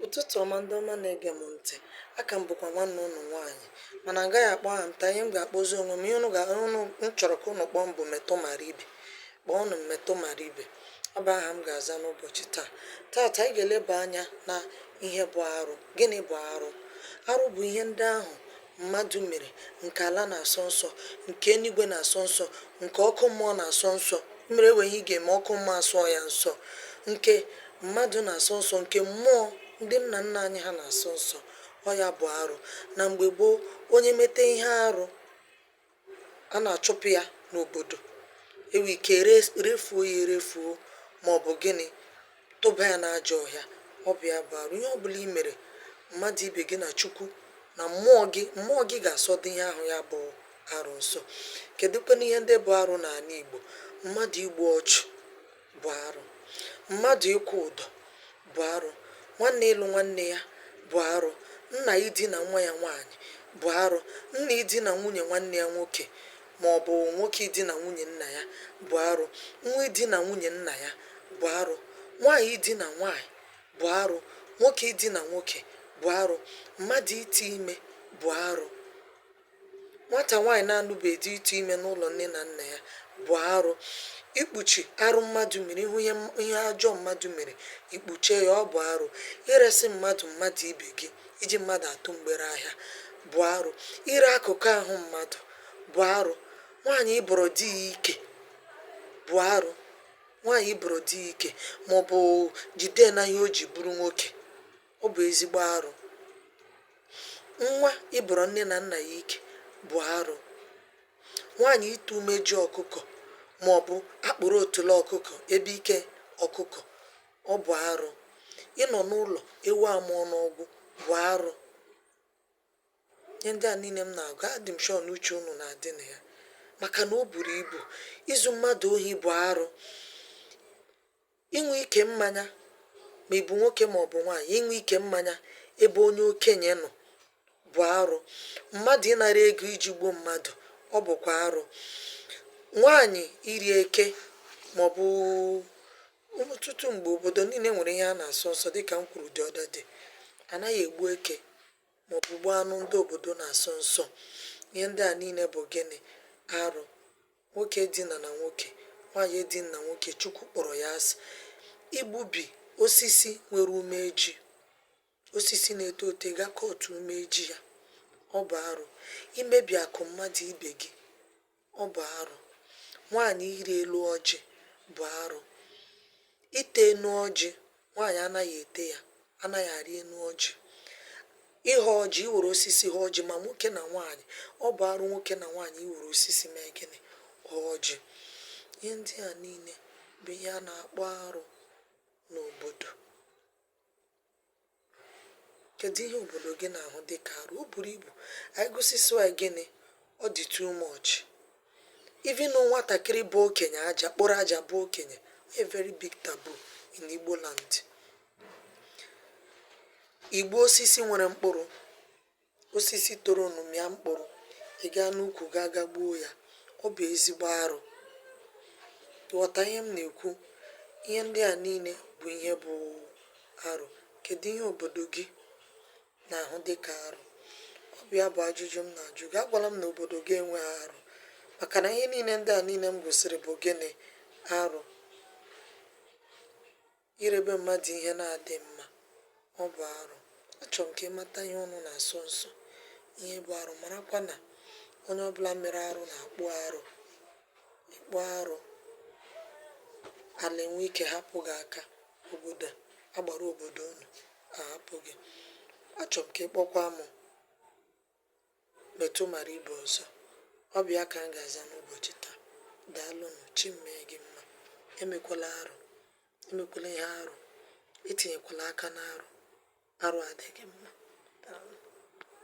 Ụtụtụ ọma ndị ọma na-ege m ntị. A ka m bụkwa nwanne ụnụ nwaanyị mana m gaghị akpọ aha m taa. Ihe m ga-akpọzi onwe m, ihe ụnụ ga ụnụ m chọrọ ka ụnụ kpọọ m bụ Metụ Mara Ibe. Kpọọnụ m Metụ Mara Ibe. Ọ bụ aha m ga-aza n'ụbọchị taa. Taata anyị ga-eleba anya na ihe bụ arụ. Gịnị bụ arụ? Arụ bụ ihe ndị ahụ mmadụ mere, nke ala na-asọ nsọ, nke eluigwe na-asọ nsọ, nke ọkụ mmụọ na-asọ nsọ. Ị mara e nwee ihe ị ga-eme, ọkụ mmụọ asọọ ya nsọ. Nke mmadụ na-asọ nsọ, nke mmụọ ndị nna nna anyị ha na-asọ nsọ. Ọ ya bụ arụ. Na mgbe gboo, onye mete ihe arụ, a na-achụpụ ya n'obodo e nwee ike refuo ya erefuo maọbụ gịnị tụba ya n'ajọ ọhịa ọ bụ ya bụ arụ ihe ọbụla i mere mmadụ ibe gị na Chukwu na mmụọ gị mmụọ gị ga-asọdụ ihe ahụ ya bụ arụ nsọ kedụkwanụ ihe ndị bụ arụ n'ala Igbo mmadụ igbu ọchụ bụ arụ, mmadụ ịkwụ ụdọ bụ arụ, nwanne ịlụ nwanne ya bụ arụ, nna idina nwa ya nwaanyị bụ arụ, nna idina nwunye nwanne ya nwoke ma ọ bụ nwoke idina nwunye nna ya bụ arụ, nwa idina nwunye nna ya bụ arụ, nwaanyị idina nwaanyị bụ arụ, nwoke idina nwoke bụ arụ, mmadụ ite ime bụ arụ. nwata nwaanyị na-anụbeghị di ịtụ ime n'ụlọ nne na nna ya bụ arụ. Ikpuchi arụ mmadụ mere, ị hụ ihe ọjọọ mmadụ mere, i kpuchie ya, ọ bụ arụ. Iresị mmadụ mmadụ ibe gị, iji mmadụ atụ mgbere ahịa bụ arụ. Ire akụkụ ahụ mmadụ bụ arụ. Nwaanyị ịbọrọ di ya ike bụ arụ. Nwaanyị ịbọrọ di ya ike maọbụ jide ya na ihe o ji bụrụ nwoke. Ọ bụ ezigbo arụ. Nwa ịbọrọ nne na nna ya ike bụ arụ. Nwaanyị ịta umeju ọkụkọ maọbụ akpụrụ otule ọkụkọ ebe ike ọkụkọ, ọ bụ arụ. Ịnọ n'ụlọ ewu amụọ n'ọgbụ bụ arụ. Ihe ndị a niile m na-agụ, adị m sure na uche unu na-adị na ya maka na o buru ibu. Izu mmadụ ohi bụ arụ. Ịṅụ ike mmanya, ma ị bụ nwoke ma ọ bụ nwaanyị, ịṅụ ike mmanya ebe onye okenye nọ bụ arụ. Mmadụ ịnara ego iji gbuo mmadụ, ọ bụkwa arụ. Nwaanyị iri eke ma ọ bụ ọtụtụ mgbe obodo niile nwere ihe a na-asọ nsọ dịka m kwuru the other day. A naghị egbu eke ma ọ bụ gbuo anụ ndị obodo na-asọ nsọ. Ihe ndị a niile bụ gịnị? Arụ. Nwoke edina na nwoke, nwanyị edina na nwoke, Chukwu kpọrọ ya asị. Igbubi osisi nwere umeji, osisi na-eto eto, ị ga kọtụ umeji ya, ọ bụ arụ. Imebi akụ mmadụ ibe gị, ọ bụ arụ. Nwanyị ịrị elu ọjị bụ arụ. Ite enu ọjị nwaanyị anaghị ete ya anaghị arị enu ọjị ịghọ ọjị iwere osisi ha ọjị ma nwoke na nwaanyị ọ bụ arụ nwoke na nwaanyị iwere osisi mee gịnị ha ọjị ihe ndị a niile bụ ihe a na-akpọ arụ n'obodo kedu ihe obodo gị na-ahụ dịka arụ o buru ibu anyị gụsịsịa gịnị ọ dị too much even nwatakịrị bụ okenye aja kpụrụ aja bụọ okenye a very big taboo in Igbo land igbu osisi nwere mkpụrụ osisi toronụ mịa mkpụrụ ị gaa n'ukwu gaa ga gbuo ya ọ bụ ezigbo arụ ị ghọta ihe m na-ekwu ihe ndị a niile bụ ihe bụ arụ kedu ihe obodo gị na-ahụ dị ka arụ ọ bụ ya bụ ajụjụ m na-ajụ gị agwala m na obodo gị enweghị arụ maka na ihe niile ndị a niile m gụsịrị bụ gịnị arụ irebe mmadụ ihe na-adịghị mma ọ bụ arụ achọrọ m ka ị mata ihe unu na-asọ nsọ ihe bụ arụ marakwa na onye ọbụla mere arụ na-akpụ arụ ị kpụọ arụ ala enwee ike hapụ gị aka obodo agbara obodo unu ahapụ gị achọrọ m ka ị kpọkwa m metụ mara ibe ọzọ ọ bụ ya ka m ga-aza n'ụbọchị taa daalụnụ chi mee gị mma emekwala arụ emekwala ihe arụ etinyekwala aka n'arụ arụ adịghị mma